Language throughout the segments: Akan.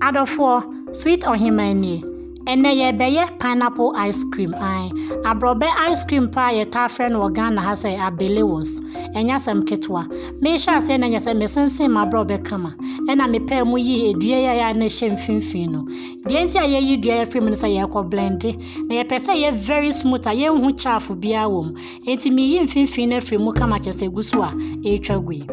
Adɔfoɔ, sweet ɔhemaa nie. Ɛnɛ yɛbɛyɛ pineapple ice cream an. Aborɔbɛ ice cream paa yɛtaa frɛ no wɔ Ghana ha sɛ abelewos. Ɛnyɛ asɛm ketewa. Mehyɛ aseɛ na nyɛ sɛ mesensen m'aborɔbɛ kama. Ɛna mepɛɛ mu yii edua yi a na ɛhyɛ mfimfini no. Deɛ nti a yɛyi dua yɛfiri mu no sɛ yɛrekɔ blende. Na yɛpɛ sɛ yɛ very smooth a yɛnhu chaafo biara wɔ mu. Enti miyi mfimfini no afiri mu kama kyɛ sɛ egu so a ɛretwa gu yi.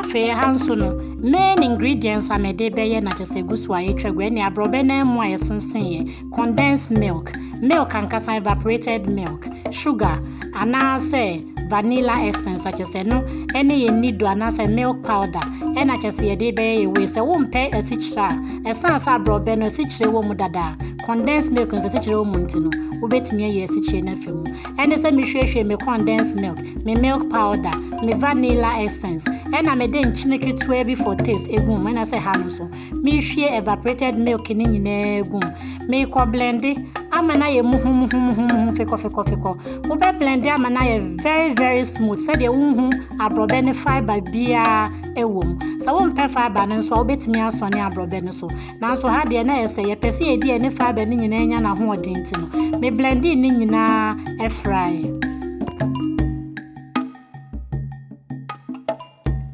afei ha nso no main ingredients a mede bɛyɛ na kyɛ sɛ gu so a yɛtwa gu ɛne aborɔbɛ na mu a yɛsensen yɛ condensed milk, milk ankasa, evaporated milk, sugar, anaasɛ vanilla essence, akyɛ sɛ no ɛne yɛ nido anaasɛ milk powder, ɛna kyɛ sɛ yɛde bɛyɛ yɛ wei. Sɛ wompɛ asikyire a ɛsan sɛ aborɔbɛ no asikyire wɔ mu dada a, condensed milk no sɛ asikyire wɔ mu nti no, wobɛtumi ayɛ asikyire no afi mu. Ɛne sɛ mehwiehwie me condensed milk, me milk powder, me vanilla essence, ɛna mede nkyene ketewa bi for taste egu mu, ɛna sɛ ha no nso, Merehwie evaporated milk no nyinaa gu mu. Merekɔ blende ama no ayɛ muhumuhumuhumuhu fekɔfekɔfekɔ. Wobɛ blende ama no ayɛ very very smooth sɛdeɛ wonhu aborɔbɛ ne fibre biara ɛwɔ mu. Sɛ wompɛ fibre no nso a wobɛtumi asɔne aborɔbɛ no so. Nanso ha deɛ na ɛsɛ yɛpɛ sɛ yɛdi ɛne fibre no nyinaa nya n'ahoɔden nti no. Me blende ne nyinaa ɛfraeɛ.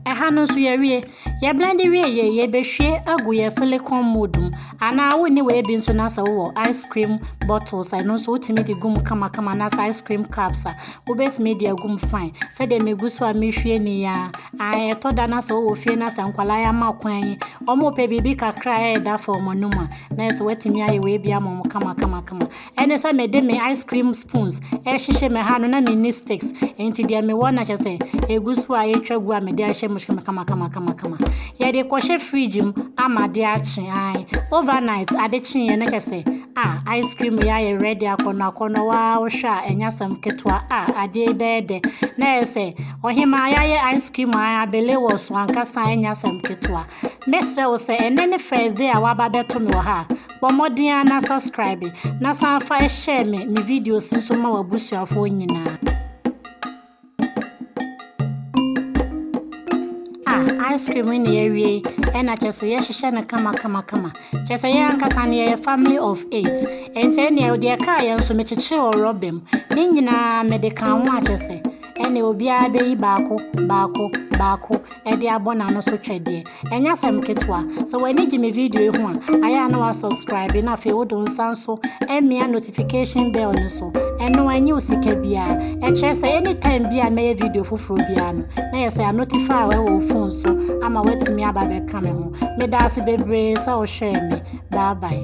Ɛha no nso yɛwie. Yɛ blende wie yei, yɛbɛhwie agu yɛ silicone mold mu. Anaa wo nni wei bi nso na sɛ wowɔ ice cream bottles a, ɛno nso wotumi de gu mu kamakama na sɛ ice cream cups a, wobɛtumi de agu mu fine. Sɛdeɛ megu so a mehwie ni ya. Ae, ɛtɔ da na sɛ wowɔ fie na sɛ nkwadaa yi ama kwan yi, wɔn pɛ biribi kakra a ɛreda fam wɔn anom a, na ɛsɛ watumi ayɛ wei bi ama wɔn kama kama kama. ɛne sɛ mede me ice cream spoons ɛhyehyɛ me ha no na menni sticks nti deɛ mewɔ na kyɛ sɛ ɛgu so a ɛtwa gu a mede ahyɛ mu hyɛ mu kamakamakamakama yɛde kɔhyɛ fridge mu ama de akye an overnight ade kyeeɛ na kyɛ sɛ a ice cream yɛ ayɛ ready akɔnɔ akɔnɔ waa wohwɛ a ɛnyɛ asɛm ketewa a adeɛ bɛyɛ dɛ na ɛyɛ sɛ ɔhemaa yɛayɛ ice cream a abele wɔ so ankasa ɛnyɛ asɛm ketewa mɛsrɛ wo sɛ ɛnɛ ne first day a waba bɛto me wɔ ha a Bɔ mmɔden ara na subscribe na san fa share me me videos nso ma w'abusuafoɔ nyinaa. Ah, ice cream na yɛawie yi, ɛna kyerɛ sɛ yɛhyehyɛ no kama kama kama. Kyerɛ sɛ yɛn ankasa no yɛyɛ family of eight. Ɛnti ɛneɛ deɛ ɛkaa yɛn nso mekyekyere wɔ rɔba mu. Ne nyinaa mede kaa ho akyɛ sɛ ɛne obiara bɛyi baako baako baako ɛde abɔ n'ano so twɛdeɛ. Ɛnyɛ asɛm ketewa. Sɛ w'ani gye me video yi ho a, ayɛ a na woasubscribe na afei wode wo nsa nso amia notification bell no so. Ɛno a, ɛnyɛ wo sika biara. Ɛkyerɛ sɛ anytime bi a mɛyɛ video foforɔ biara no, na yɛ sɛ anotify wɔ wo phone so ama woatumi aba bɛka me ho. Meda ase bebree sɛ wohwɛɛ me. Bye bye.